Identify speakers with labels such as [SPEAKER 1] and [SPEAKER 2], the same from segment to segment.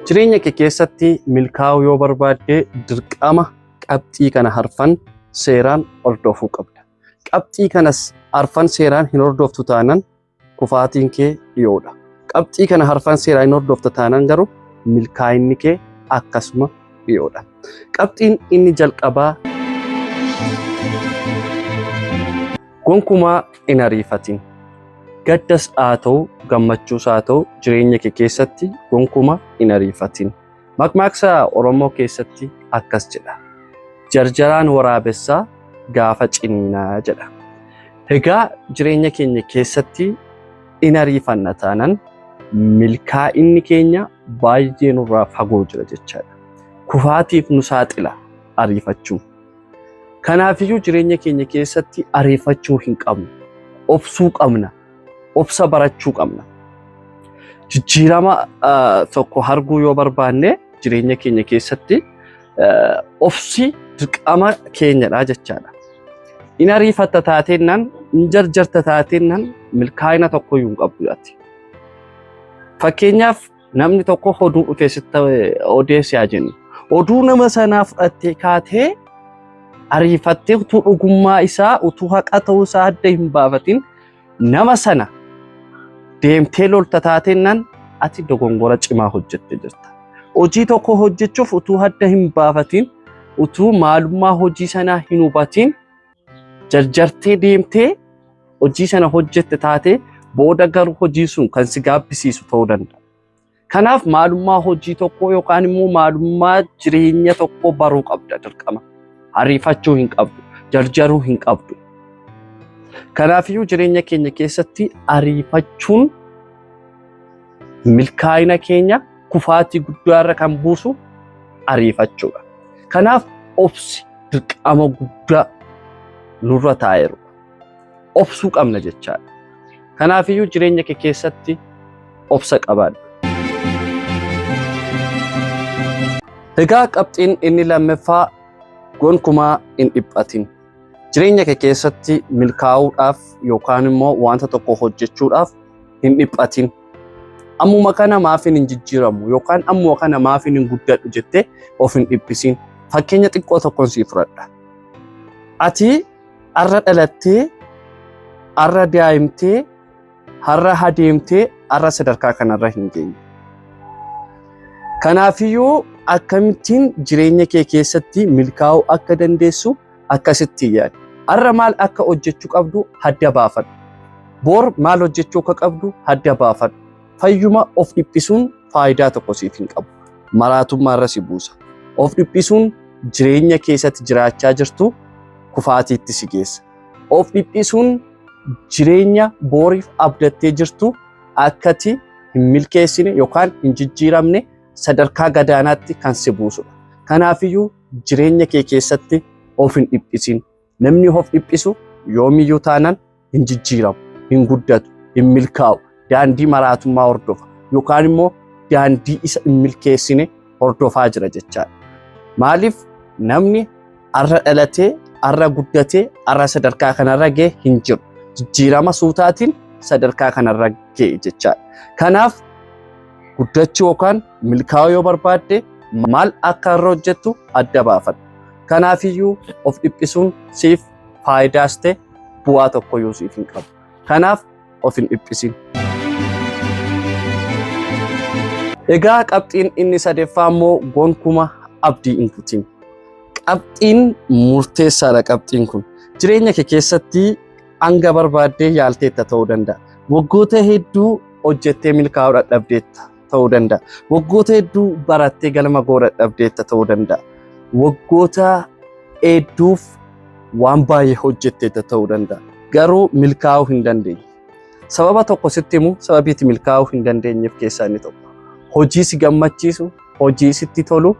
[SPEAKER 1] Jireenya kee keessatti milkaa'uu yoo barbaadde dirqama qabxii kana harfan seeraan hordofuu qabda. Qabxii kanas harfan seeraan hin hordoftu taanan kufaatiin kee dhiyoodha. Qabxii kana harfan seeraan hin hordofta taanan garuu milkaa'inni kee akkasuma dhiyoodha. Qabxiin inni jalqabaa gonkumaa hin ariifatin. Gaddas haa ta'u gammachuus haa ta'u jireenya kee keessatti gonkumaa hin ariifatin. Maqmaaqsa Oromoo keessatti akkas jedha. Jarjaraan waraabessaa gaafa ciniinaa jedha. Egaa jireenya keenya keessatti in ariifanna taanan milkaa'inni keenya baay'ee nurraa fagoo jira jechaadha. Kufaatiif nu saaxila ariifachuu. Kanaafiyyuu jireenya keenya keessatti ariifachuu hin qabnu. Obsuu qabna. Obsa barachuu qabna. Jijjiirama tokko arguu yoo barbaanne jireenya keenya keessatti obsi dirqama keenyadha jechaadha. In ariifatta taateennan, in jarjarta taateennan milkaa'ina tokko iyyuu hin qabdu ati. Fakkeenyaaf namni tokko oduu dhufee sitti odeessi haa jennu. Oduu nama sanaa fudhattee kaatee ariifattee utuu dhugummaa isaa utuu haqa ta'uu isaa adda hin baafatin Nama sana deemtee lolta taateennan ati dogongora cimaa hojjette jirta. Hojii tokko hojjechuuf utuu hadda hin baafatiin, utuu maalummaa hojii sanaa hin hubatiin jarjartee deemtee hojii sana hojjette taatee booda garuu hojii sun kan si gaabbisiisu ta'uu danda'a. Kanaaf maalummaa hojii tokkoo yookaan immoo maalummaa jireenya tokkoo baruu qabda dirqama. Ariifachuu hin qabdu, jarjaruu hin qabdu. Kanaafiyyuu jireenya keenya keessatti ariifachuun milkaa'ina keenya kufaatii guddaa irra kan buusu ariifachuudha. Kanaaf obsi dirqama guddaa nurra taa'eeru. obsuu qabna jechaadha. Kanaafiyyuu jireenya kee keessatti obsa qabaadha. Egaa qabxiin inni lammaffaa gonkumaa hin dhiphatin. Jireenya kee keessatti milkaa'uudhaaf yookaan immoo wanta tokko hojjechuudhaaf hin dhiphatin. Ammuma kana maafiin hin jijjiiramu yookaan ammuma kana maafiin hin guddadhu jettee of hin dhiphisin. Fakkeenya xiqqoo tokkoon siif fudhadha. Ati Arra dhalattee, arra daa'imtee, harra hadeemtee, arra sadarkaa kanarra hin geenye. Kanaafiyyuu akkamittiin jireenya kee keessatti milkaa'uu akka dandeessu akkasitti yaadi. Arra maal akka hojjechuu qabdu adda baafadhu. Bor maal hojjechuu akka qabdu adda baafadhu. Fayyuma of dhiphisuun faayidaa tokko siif hin qabu. Maraatummaa irra si buusa. Of dhiphisuun jireenya keessatti jiraachaa jirtu kufaatiitti si geessa. Of dhiphisuun jireenya booriif abdattee jirtu akkati hin milkeessine yookaan hin jijjiiramne sadarkaa gadaanaatti kan si buusudha. Kanaafiyyuu jireenya kee keessatti of hin dhiphisin. Namni of dhiphisu yoomiyyuu taanaan hin jijjiiramu, hin guddatu, hin milkaa'u, daandii maraatummaa hordofa yookaan immoo daandii isa hin milkeessine hordofaa jira jechaadha. Maaliif namni arra dhalatee, arra guddatee, arra sadarkaa kanarra ga'e hin jiru. Jijjiirama suutaatiin sadarkaa kanarra ga'e jechaadha. Kanaaf guddachuu yookaan milkaa'uu yoo barbaadde maal akka irra hojjettu adda baafadhu. Kanaafiyyuu of dhiphisuun siif faayidaas ta'e bu'aa tokkoyyuu siif hin qabu. Kanaaf of hin dhiphisin. Egaa qabxiin inni sadeeffaa immoo gonkuma abdii hin kutin. Qabxiin murteessaadha qabxiin kun. Jireenya kee keessatti hanga barbaaddee yaalteetta ta'uu danda'a. Waggoota hedduu hojjettee milkaa'uu dadhabdeetta. ta'uu danda'a. Waggoota hedduu barattee galma ga'uu dadhabdeetta ta'uu danda'a. Waggoota hedduuf waan baay'ee hojjetteetta ta'uu danda'a. Garuu milkaa'uu hin dandeenye. Sababa tokko sitti himu sababiitti milkaa'uu hin dandeenyeef keessaa inni tokko. Hojii si gammachiisu, hojii sitti tolu,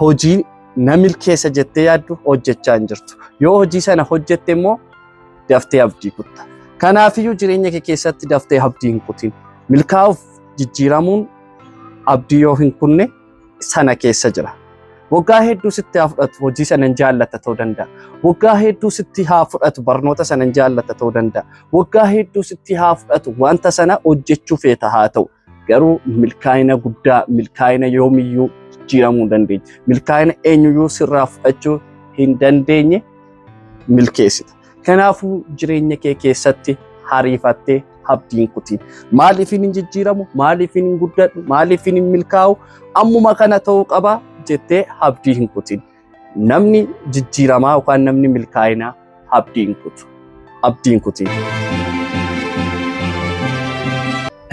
[SPEAKER 1] hojii na milkeessa jettee yaaddu hojjechaa hin jirtu. Yoo hojii sana hojjette immoo daftee abdii kutta. Kanaafiyyuu jireenya kee keessatti daftee abdii hin kutin. Milkaa'uuf jijjiiramuun abdii yoo hin kunne sana keessa jira. Waggaa hedduu sitti haa fudhatu hojii sana hin jaallata ta'uu danda'a. Waggaa hedduu sitti haa fudhatu barnoota sana hin jaallata ta'uu danda'a. Waggaa hedduu sitti haa fudhatu wanta sana hojjechuu feeta haa ta'u. Garuu milkaa'ina guddaa milkaa'ina yoomiyyuu jijjiiramuu hin dandeenye. Milkaa'ina eenyuyyuu sirraa fudhachuu hin dandeenye milkeessita. Kanaafuu jireenya kee keessatti hariifattee abdiin kutiin maaliifin hin jijjiiramu maaliifin hin guddadhu maaliifin hin milkaa'u ammuma kana ta'uu qaba jettee abdii hin kutin namni jijjiiramaa yookaan namni milkaa'inaa abdii hin kutu abdii hin kutin.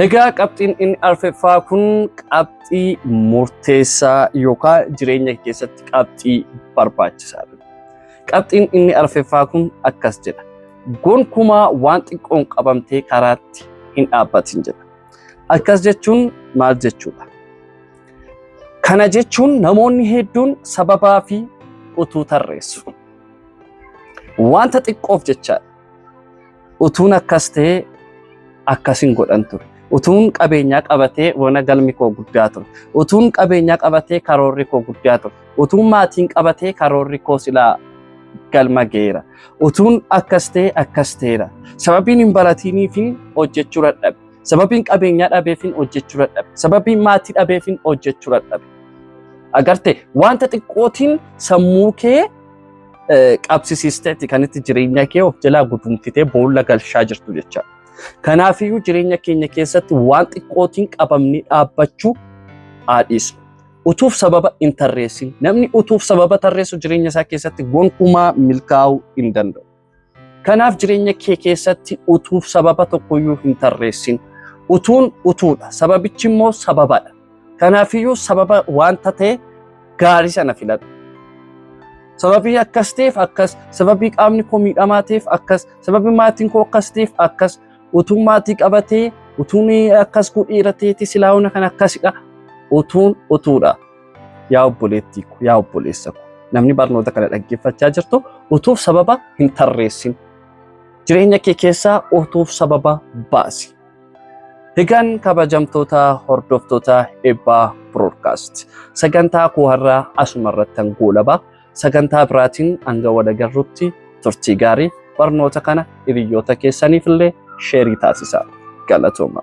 [SPEAKER 1] Egaa qabxiin inni arfeffaa kun qabxii murteessaa yookaan jireenya keessatti qabxii barbaachisaadha. Qabxiin inni arfeffaa kun akkas jedha. Gonkumaa waan xiqqoon qabamtee karaatti hin dhaabbatin jedha. Akkas jechuun maal jechuudha? Kana jechuun namoonni hedduun sababaa fi utuu tarreessu. Wanta xiqqoof jechaadha. utuun akkas ta'ee akkas hin godhan ture. Utuun qabeenyaa qabatee wana galmi koo guddaa ture. Utuun qabeenyaa qabatee karoorri koo guddaa ture. Utuun maatiin qabatee karoorri koo silaa galma geera. Utuun akkas ta'ee akkas ta'eera. Sababiin hin baratiiniifiin hojjechuu dadhabe. Sababiin qabeenyaa dhabeefiin hojjechuu dadhabe. Sababiin maatii dhabeefiin hojjechuu dadhabe. Agarte wanta xiqqootiin sammuu kee qabsisiisteetti kan itti jireenya kee of jalaa gudunfitee boolla galchaa jirtu jecha. Kanaafiyyuu jireenya keenya keessatti waan xiqqootiin qabamnee dhaabbachuu haadhiisna. Utuuf sababa hin tarreessin. Namni utuuf sababa tarreessu jireenya isaa keessatti gonkumaa milkaa'uu hin danda'u. Kanaaf jireenya kee keessatti utuu sababa tokkoyyuu hin tarreessin. Utuun utuudha. Sababichi immoo sababadha. Kanaafiyyuu sababa wanta ta'e gaarii sana filadhu. Sababii akkas ta'eef akkas, sababii qaamni koo miidhamaa ta'eef akkas, sababii maatiin koo akkas ta'eef akkas, utuu maatii qabatee, utuun akkas godheera ta'eeti silaawuna kan akkasidha. Utuun utuudha. Yaa obboleettii ko, yaa obboleessa ko, namni barnoota kana dhaggeeffachaa jirtu utuuf sababa hin tarreessin. Jireenya kee keessaa utuuf sababa baasi. Egaan kabajamtoota hordoftoota eebbaa broadcast sagantaa koo har'aa asuma irrattan goolaba sagantaa biraatiin hanga wal agarrutti turtii gaarii barnoota kana hiriyoota keessaniif illee sheerii taasisaa galatooma.